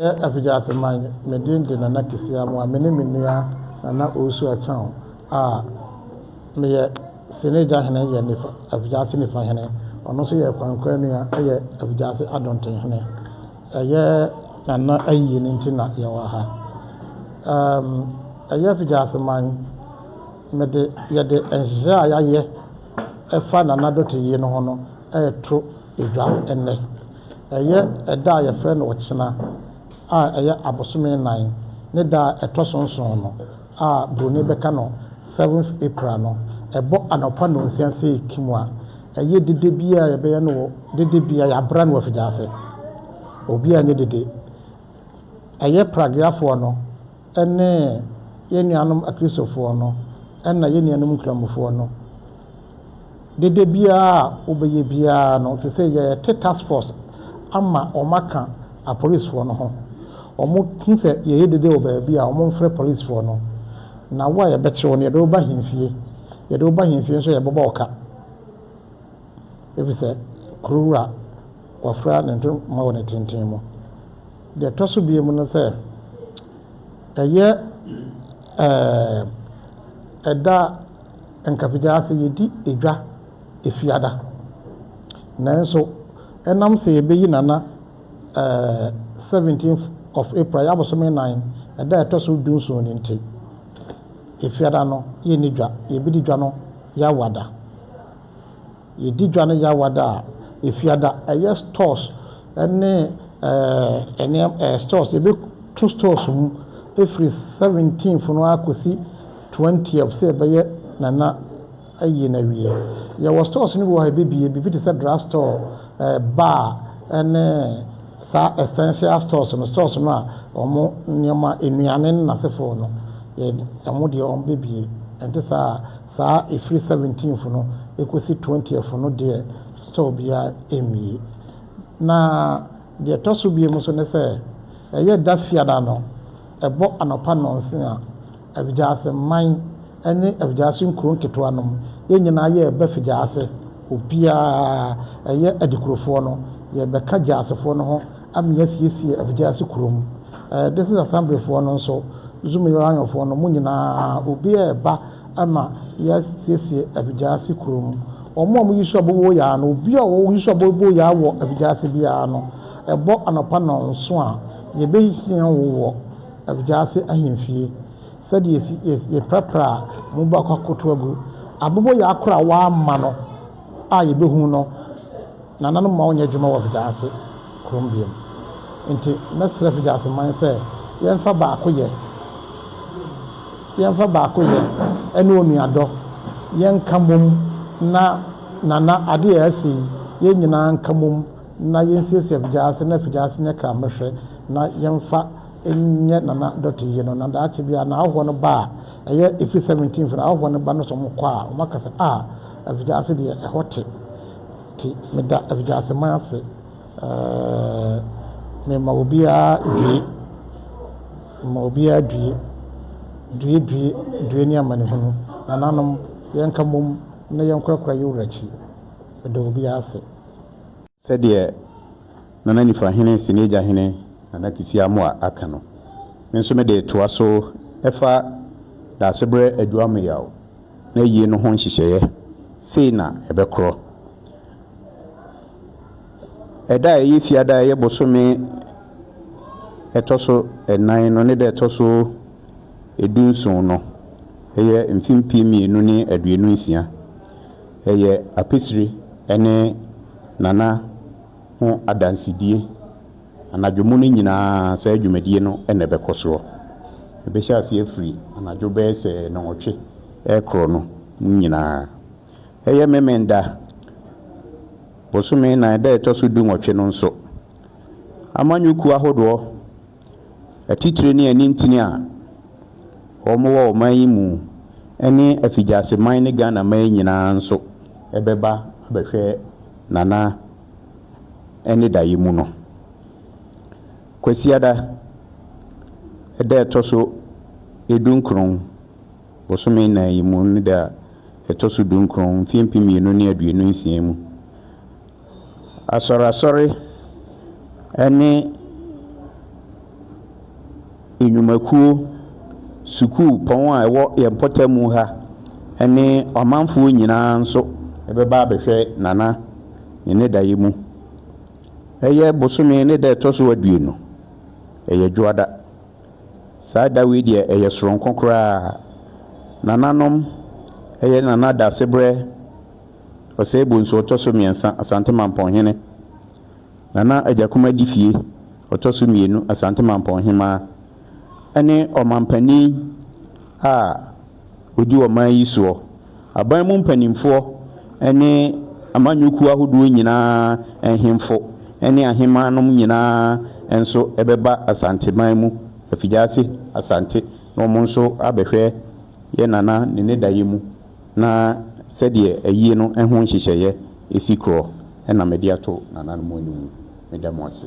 Meyɛ Apigya Aseman, me din de Nana Kesi Amoah. Me ne me nua Nana Owusu Akyang a meyɛ Sene Gyahene yɛ nifa, Apigya Ase nifa hene. Ɔno nso yɛ Kwankwa nua yɛ Apigya Ase Adonten hene. Ɛyɛ Nana ayie no nti na yɛwɔ ha. Um, ɛyɛ Apigya Aseman, mede, yɛde nhyehyɛ a yɛayɛ ɛfa Nana Dɔte yie no ho no ɛreto Edware nnɛ. Ɛyɛ ɛda a yɛfrɛ no Ɔkyena a ɛyɛ abosome nnan ne da a ɛtɔ so nson no a Buroni bɛka no Seventh April no. Ɛbɔ anɔpa nnɔnsia sɛ ekim a, ɛyɛ dede bi a yɛbɛyɛ no wɔ dede bi a yɛabra no wɔ afidie ase. Obi a nyɛ dede. Ɛyɛ Pragueafoɔ no ne yɛn nuanom Akristofoɔ no na yɛn nuanom Nkramofoɔ no, dede biara a wobɛyɛ biara no, te sɛ yɛte task force ama wɔn aka apolisifoɔ no ho. Wɔn hu sɛ yɛyɛ dede wɔ baabi a wɔn mfrɛ polisifoɔ no. Na wo a yɛbɛkyerɛ wo no, yɛde wo ba hemfie. Yɛde wo ba hemfie nso yɛbɛbɔ wo ka. Efisɛ kuro wura wafura ne ntoma wɔ ne tenten mu. Deɛ ɛtɔ so mmienu ne sɛ, ɛyɛ ɛda a nka pagyaa sɛ yɛdi dwa Efiada. Nanso ɛnam sɛ yɛbɛyi Nana 17th of April, ɛyɛ abosome nnan, ɛda a ɛtɔ so dunson no nti, Efiada no yɛnni dwa. Yɛbɛdi dwa no Yawada. Yɛdi dwa no Yawa da a, Efiada, ɛyɛ stores ne ɛɛ nneɛma ɛɛ stores yɛbɛto stores mu firi seventeenth no ara kɔsi twentieth sɛ ɛbɛyɛ Nana ayi no awie. Yɛwɔ stores no bi wɔ hɔ a yɛbɛbue biribi te sɛ drug store, ɛɛ bar ne saa essential stores no stores no a wɔn nneɛma nnuane ne n'asefoɔ no yɛ wɔn deɛ wɔbɛbue ɛnte saa a. Saa ɛfiri seventeenth no ɛkɔsi twentieth no deɛ store biara ɛmmue. Na deɛ ɛtɔ so biom nso ne sɛ ɛyɛ da fiada no ɛbɔ anɔpa nnɔnson a Afigyase man ne Afigyase nkuro nketewa nom yɛn nyinaa yɛreba Figyase obiara ɛyɛ Adikurofoɔ no yɛrebɛka Gyasefoɔ no ho Amia asiesie Abegyase kurom. Ɛɛ this is Assemblyfoɔ no nso, Zumilanyɔfoɔ no, mo nyinaa, obi a ɛba ma yɛasiesie Abegyase kurom. Wɔn a wɔyi sua bɔbɔ yaa no, obi a ɔyi sua bɔbɔ yaa wɔ Abegyase biara no, ɛbɔ anɔpa nnɔnso a, yɛbɛhia wo wɔ Abegyase ahemfie sɛdeɛ yɛsi, yɛpirapira a, mo baako akɔto agu. Abɔbɔ yaa koro a wɔamma no. a yɛbɛhu no nananom ma wɔnyɛ adwuma wɔ Figyase kurom biom. Nti mɛsrɛ Figyase man sɛ yɛmfa baako yɛ, yɛmfa baako yɛ ɛne onuadɔ, yɛnka mom na nana adeɛ a ɛsɛ yi yɛn nyinaa nka mom na yɛnsiesie Figyase na Figyase nyɛ kramɛhwɛ na yɛmfa nyɛ nana dɔte yie no na daakye biara na ahɔhoɔ no ba a ɛyɛ April 17th no ahɔhoɔ no ba no sɛ wɔkɔ a wɔaka sɛ a Afigyase deɛ ɛhɔ te. Nti meda Afigyaseman ase. Ɛɛɛɛ mema obiara due. Mema obiara due. Due due due ne amanehunu. Nananom, yɛnka mmom na yɛnkorakora yɛn wura akyi. Meda obiara ase. Sɛdeɛ Nana Nifahene Seniagyahene Nana Kissi Amoah aka no, me nso mede retoa so ɛfa Daasebrɛ Adu Amoyaw n'ayie no ho nhyehyɛeɛ, sei na ɛbɛkorɔ. Ɛda a ɛyɛ Fiada a ɛyɛ bosome ɛtɔ so ɛnan no ne da ɛtɔ so edunson no, ɛyɛ mfe mpem mmienu ne aduonu nsia. Ɛyɛ Apisire ne Nana ho adansedie. Anadwo mu no nyinaa saa dwumadie no na ɛbɛkɔ soɔ. Ɛbɛhyɛ aseɛ firi anadwo bɛyɛ sɛ nnɔnwɔtwe rekorɔ no mu nyinaa. Ɛyɛ Memenda bosome nnan da a ɛtɔ so du nwɔtwe no nso. Amanyɔkuo ahodoɔ. Atitire ne anintini a wɔwɔ ɔman yi mu ne afigyaseman ne Ghana man nyinaa nso bɛba abɛhwɛ Nana ne daeɛ mu no. Kwasiada da a ɛtɔ so dunkron bosome nnan yi mu ne da a ɛtɔ so dunkron mfeɛ mpem mmienu ne aduonu nsia mu. Asɔrasɔre ne nnwumakuo, sukuupɔn a ɛwɔ yɛn mpɔtam ha ne ɔmanfoɔ nyinaa nso bɛba abɛhwɛ Nana ne ne daeɛ mu. Ɛyɛ bosome ne da a ɛtɔ so aduonu, ɛyɛ Dwoada. Saa da wei deɛ ɛyɛ sononko koraa. Nananom, ɛyɛ Nana Daasebrɛ. Ɔsɛe Bonsu ɔtɔ so mmiɛnsa, Asante Mampɔn hene. Nana Agyakum Adifie ɔtɔ so mmienu, Asante Mampɔn hemaa. Ɛne ɔmampanin a ɔdi ɔman yi soɔ. Aban mu mpanimfoɔ ne amanyɔkuo ahodoɔ nyinaa nhemfo ne ahemaa nom nyinaa nso bɛba Asanteman mu afigyaase Asante na wɔn nso abɛhwɛ yɛ Nana ne ne daeɛ mu. na sɛdeɛ ayie no ho nhyehyɛeɛ si korɔ na mede ato nananom anim. Meda mo ase.